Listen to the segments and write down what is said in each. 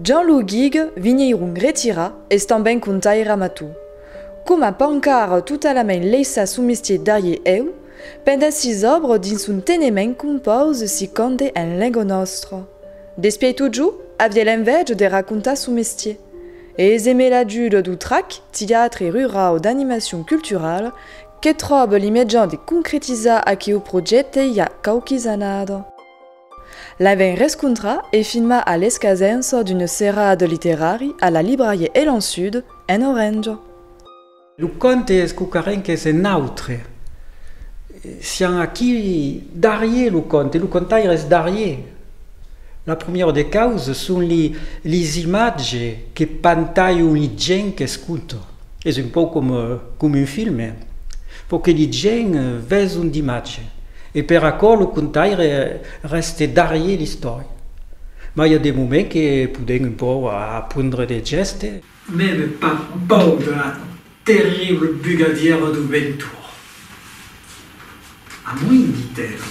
Jean Lou Guig, vinheirun retirat, es tanben contaire amator. Coma Pancard totalament leissa son mestier darrier eu, pendent sis òbres dins son tenement compòus si conde en lenga nòstra. D'espièi totjor, aviá l'envèja de racontar son mestier. E es emé l'ajuda d'Utrac, Tiatre Rurau d'Animacion Culturala, Que tròbe li mejan de concretizar aqueu projècte ja quauquis annada. L'avèm rescontrat e filmat a l'escasença d'un serrade literari a la librarié Elan Sud, en Orenja. Lo conte es quauquarren qu'es en autre. Siam aquí darrier lo conte, lo contaire es darrier. La promièra de causas son li, lis imatges que pantalhon li gent qu'escouta. Es un pauc coma un filme, pauque de gent ves un dimatge e per aquò lo contaire rèste darrier l'istòria. Mas i a de moments que podèm un pauc apondre de gèste. Mève pas paur de la terrible bugadièra du ventour. Amunt ditèra.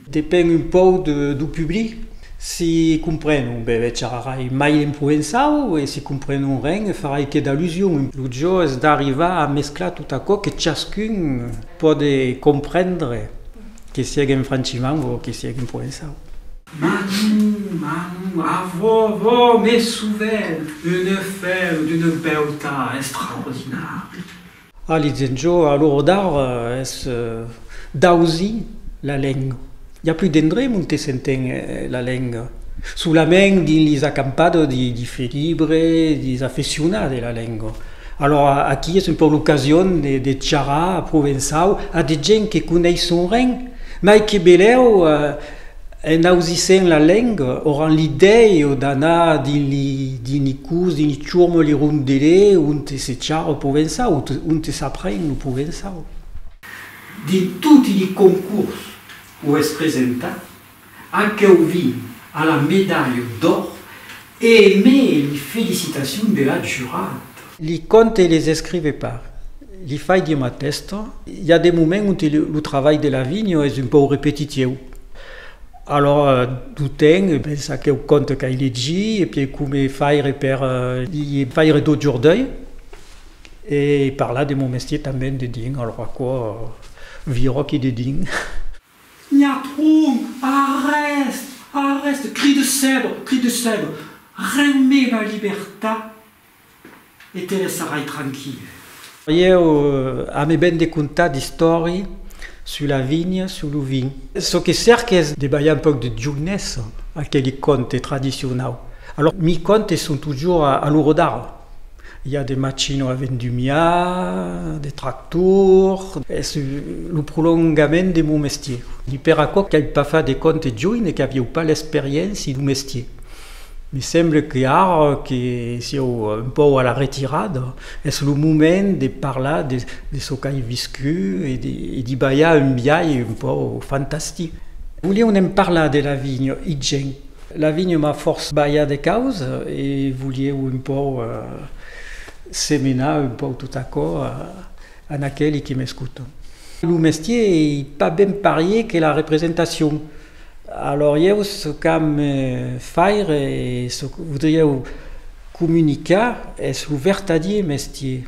Depen un pauc du public, si comprenon, be be charrarai mai en provençau e si comprenon ren, farai que d'allusion. Lo jo es d'arrivar a mesclar tot aquò que chascun pòde comprendre, que sièg en francimang o que sièg en provençau. Manu, Manu, avó, avó, me souvèn, une fèu d'una beutat estraordinària. A Lizenjo, a l'Orodar, es d'ausi la lenga. I a plus d'endrech ont e s'enten la lenga. Solament dins lis acampadas di di felibre, dis afeccionats de la lenga. Alòra aquí es un pauc l'ocasion de de charrar provençau a de gents que coneisson ren, mai que belèu En ausissent la lenga, auran l'idèi o d'anar dins li, dins li curs, dins li churmol, li rondele, onte se charra o provensau, onte, onte s'apren lo provensau. Dins toti li concurs o es presentat, aqueu vin a la medalha d'òr E me li felicitacion de l'ac jurat. Li conte e les escrive pas. Li fai dir ma testa. I a de moments onte lo travalh de la vinha es un pòu repetitieu. Alora d'o ten e bens aqueu conte qu'ai legit e pièi come faire per li faire d'o jordei e parlar de mon mestier tanben dedin. Alora aquò viròqui dedin. N'i a pron! Arrèst! Arrèst! Cri de sèbre! Cri de sèbre! Reme la libertat e te laissarai tranquille. Ieu ame ben de contar d'istòri sus la vinha, sus lo vin. Çò que cèrque es de balhar un pauc de jounessa a aqueli conte tradicionau. Alòrs, mi contes son totjorn a lo rodar. I a de machino a vendumiar, de tractor, es lo prolongament de mon mestier. I per aquò qu'ai pas fat de compte junh e qu'avieu pas l'experiéncia du mestier. Me semble que ara que sieu un pauc a la retirada, es lo moment de parlar de çò qu'ai viscut e d'i balhar un biais un pauc fantastic. Volieu ne'n parlar de la vinha, Igen? La vinha m'a fòrç balhat de caus e volieu un pòu semenar un pòu tot aquò an aqueli que m'escotan. Lo mestier ei pas ben parier que la representacion, alòr ieu çò qu'am me faire e çò que vodrieu comunicar es lo vertadier mestier.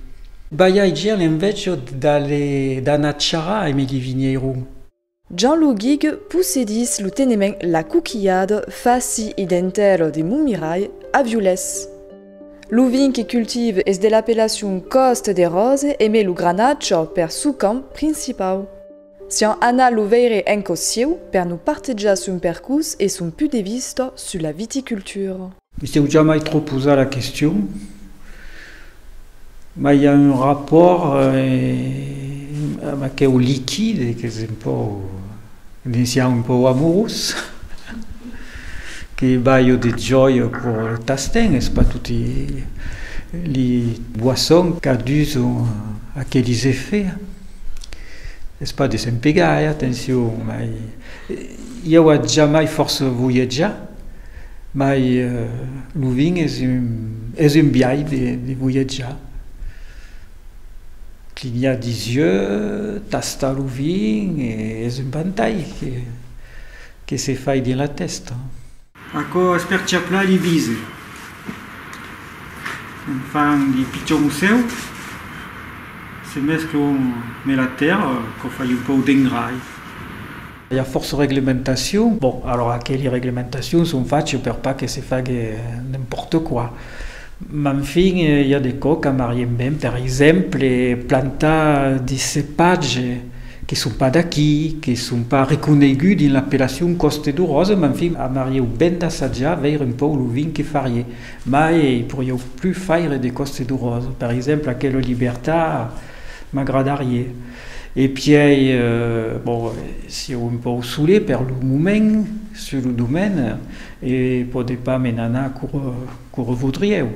Balhai-je a l'enveja d'aller d'anar charrar a Emili Vinheiro? Jean Luguig possedís lo tenement La Coquillade faci e dentaire de Montmirai, a Violés. Lo vin que cultive es de l'apellacion Coste des Roses e met lo Granaccio per sò camp principau. Sián anat lo veire en còs sieu per nos partejar son percurs e son put de vista sus la viticultura. Me sèu jamai trop posat la question, mas i a un rapòrt amb aqueu liquide qu'es un pòu, ne siá un pòu amorós, que balho de jòia pro lo tasten, es pas toti li boissons qu'a dus aquelis effets, es pas de se'n pegar, eh, atencion, mas i auà jamai fòrça voyatjar, Mai lo vin es un biais de voyatjar. Clignar disieu, tastar lo vin es un pantai que se fai dins la testa. Aquò es per chaplar li vise. Se'n fan li pichons musseus, se mesclan ne la tèrra, quò fai un pauc d'engrai. I a fòrça reglementacion. Bon, alora aqueli reglementacion son fachas per pas que se fague n'importe quoi. Mas enfin, i a de cò qu'amarien ben, per exemple, plantar de cepatges que son pas d'aquí, que son pas reconeguts dins l'apellacion Coste du Rose, mas enfin, amarieu ben d'assajar, veire un pauc lo vin que farie. Mai i porieu plus faire de Coste du Rose. Per exemple, aquela Libertà m'agradarie. E pièi, bon, sieu un pòu solé per lo moment sus lo domain e podé pas me n'anar cor vodrieu.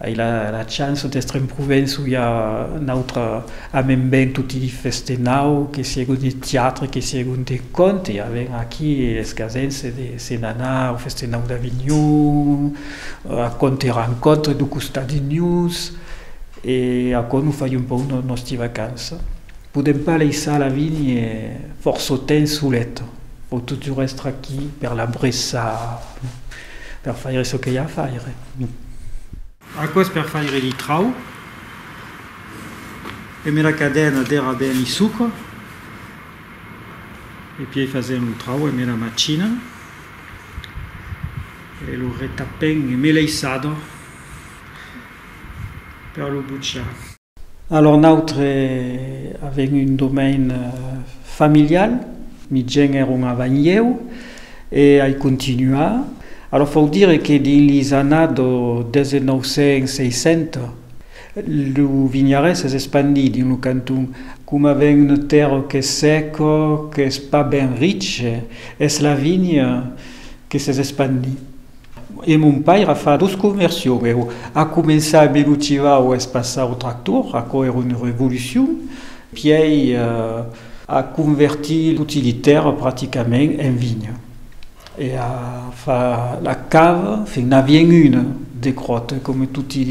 Ai la chance d'estre en Provence où i a n'autre amen ben toti li feste nau que sieu de tiatre que sieu de conte e aven aquí es gasens de se n'anar au feste nau d'Avignon, a conte rencontre do costat de nus. E aquò nos fai un pauc nòsti vacança. Podèm pas laissar la vigne fòrça temps solet, vò totjorn èstre aquí per la bressar, per faire çò que i a a faire. Aquò es per faire li trau e me la cadena dera ben li sucre e pièi fasèm lo trau e me la macina e lo retapèm e me l'eiçador. per lo butjar. Alor nautre avèm un domain familial, mi gents èron avant ieu e ai continuar. Alor fòu dire que dins lis annads 1960 lo vinharès es espandit dins lo canton. Coma avèm una tèrra qu'es sèca, qu'es pas ben riche, es la vinha que s'es espandit. E mon pair a fat os comercion, e a començat a belotivar o espaçar o tractor, aquò èra una revolucion, pièi a convertir toti li tèrra praticament en vinha, e a far la cava, enfin n'avièn una de cròta coma toti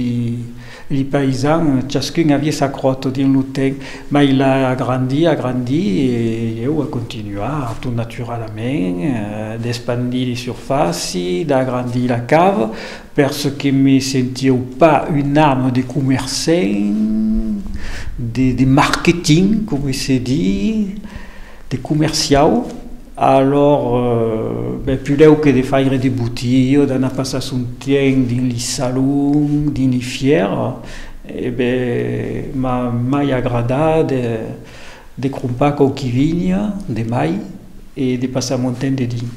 Li païsan, chascun avie sa cròto dins lo ten, mai la agrandí, agrandí, e ieu a continuar, tot naturalament, d'espandir li surfàci, d'agrandir la cava, pers que me sentieu pas un ame de comercent, de marketing, coma se di, de comerciau. Alòr, ben, pudèu que de faire de botilho, d'anar passar son tiemp dins li salons, dins li fièra, e ben, m'a mai agradat de crompar quauqui vinha de mai e de passar mon temps dedins.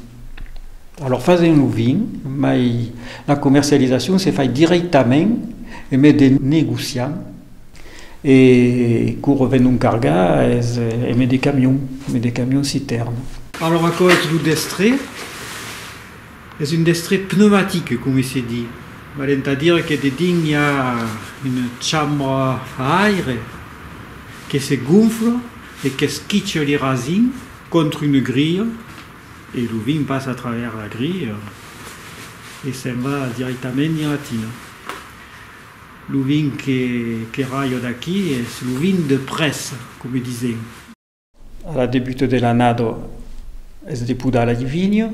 Alòr, fasent lo vin, mai la comercialisacion se fai dirèctament en mes de negociant. E quò revenon cargar es eme de camion, eme de camion citèrn. Alòr aquò es lo destré, es un destré pneumatique coma se di, val entà dire que dedins i a una chambra a aire que se gonfla e qu'esquicha li rasin contra una grilha e lo vin passa a travèrs la grilha e se'n va dirèctament dins la tina. Lo vin que qu'èra jo d'aquí es lo vin de près, coma disèm. A la debuta de l'annada es de podar la vinya,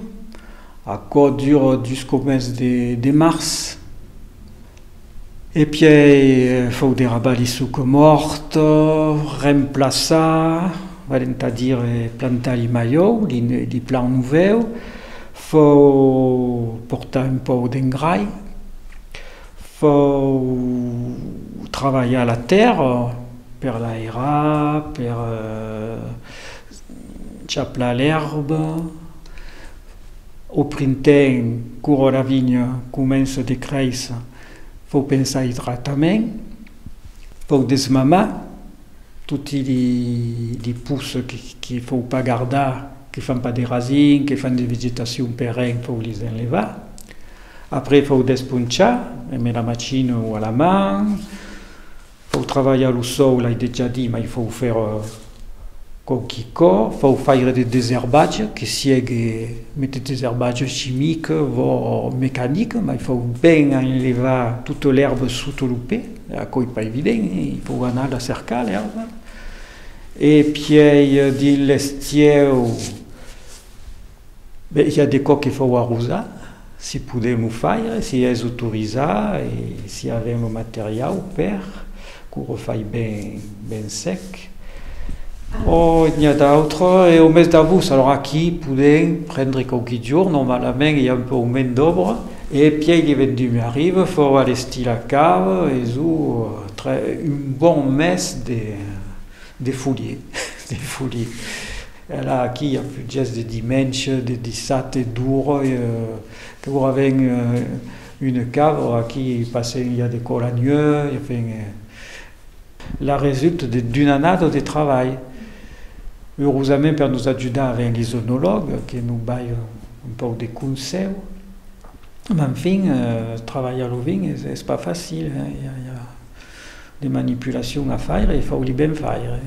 aquò dura jusqu'au mes de març, e pièi fau de rabar li suca mòrta, remplaçar, val entà dire plantar li malhau, li plan novèu, fau portar un pòu d'engrai. Fau travalhar la tèrra per l'airar, per chaplar l'èrba. Au printemps, quora la vinha comença de créisser, fau pensar a l'idratament, fau desmamar toti li pousses que fau pas gardar, que fan pas de rasins, que fan de vegetacion perenne, fau les enlevar. Après fau desponchar, e me la machina o a la man, fau travalhar lo sòu, l'ai dejà dit, mai fau fèr quauqui cò, fau faire de deserbatge, que siegue me de deserbatge chimic vò mecanic, mai fau ben enlevar tota l'èrba sota lo pè, aquò ei pas evident, e fau anar la cercar l'èrba, e pièi dins l'estieu, Be, i a de quò que fau arrosar, si podem o faire, si es autorizar e si avem lo materiau per, qu'o refai ben, ben sec. Ò, n'i a d'autre, e o mes davos, alors aquí podem prendre quauqui jorn, normalament i a un pauc mens d'òbra, e pièi li vendumi arriva, fau a l'estil a cau, e zo tre un bon mes de, de folier, de folier. Ela aquí a fugès de dimènche, de dissabte, d'ora que ora ven una cabra aquí passèm ja de còla nua ja fèm la resulta de d'una annada de travalh eurosament per nos ajudar ven li zonològ que nos bai un pauc de consèu m'en fin travalhar lo vin es pas facil ja De manipulacion a faire, e fau-li ben faire.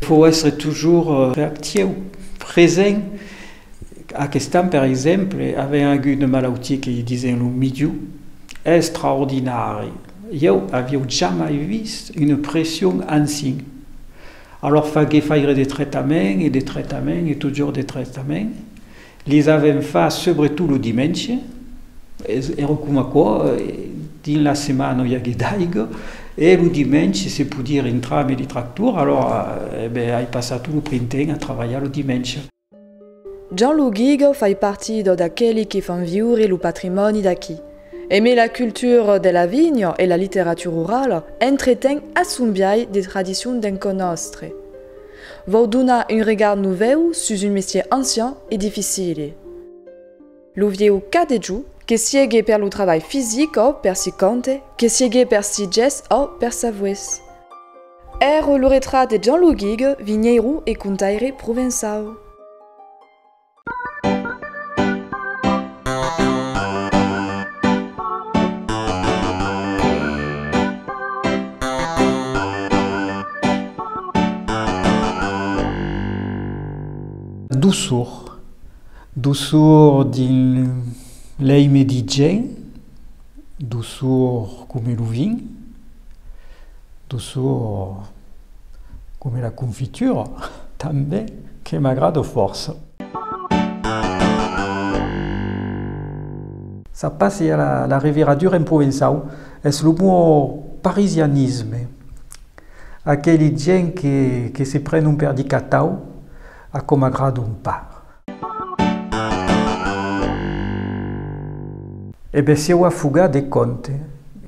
Fau èstre tujors reactieu, present. Aquest an, per exemple, avèm agut una malautia que li disen lo midiu. Extraordinari! Ieu avieu jamai vist una pression ansin. Alòr faguè faire de traitament e de traitament e tujors de traitament. Les avèm fach subretot lo dimenge, èra com aquò, dins la setmana non i agué d'aiga, e lo dimenge se podie rentrar amb li tractors, alòra ai passat tot lo printemps a travalhar lo dimenge. Jean Lou Guiga fai partida d'aqueli qui fan viure lo patrimòni d'aquí. Aimé la cultura de la vinha e la literatura orala, entreten a son biais de tradicions d'enconòstre. Vòu donar un regard novèu sus un mestier ancian e dificile. Lo vieu cadejo, que siegue per lo trabalh fisic ò per si compte, que siegue per si ges ò per s'avues. Ère lo retrat de Jean Luguig, vinheiro e contaire provençau. Doçor, doçor dins lei medigen, doçor coma lo vin. Dusor coma la confitura tanben que m'agrada fòrça. Ça passe a la reviradura en provençau, es lo mon parisianisme. Aqueli gents que se prenon per di catau, a com m'agradon pas. E be sieu a fugar de compte.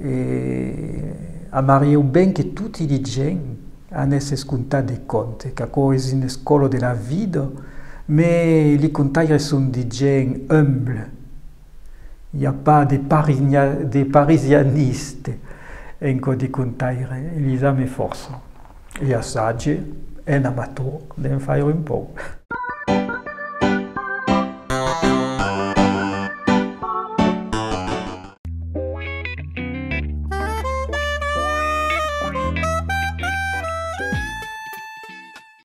E amarieu ben que toti li gents an esses comptar de compte, qu'aquò es un escolo de la vida, me li contaires son de gents humbles. i a pas de de parisianiste en çò de contaire, Elisa me fòrça e assage en amator d'en faire un pauc.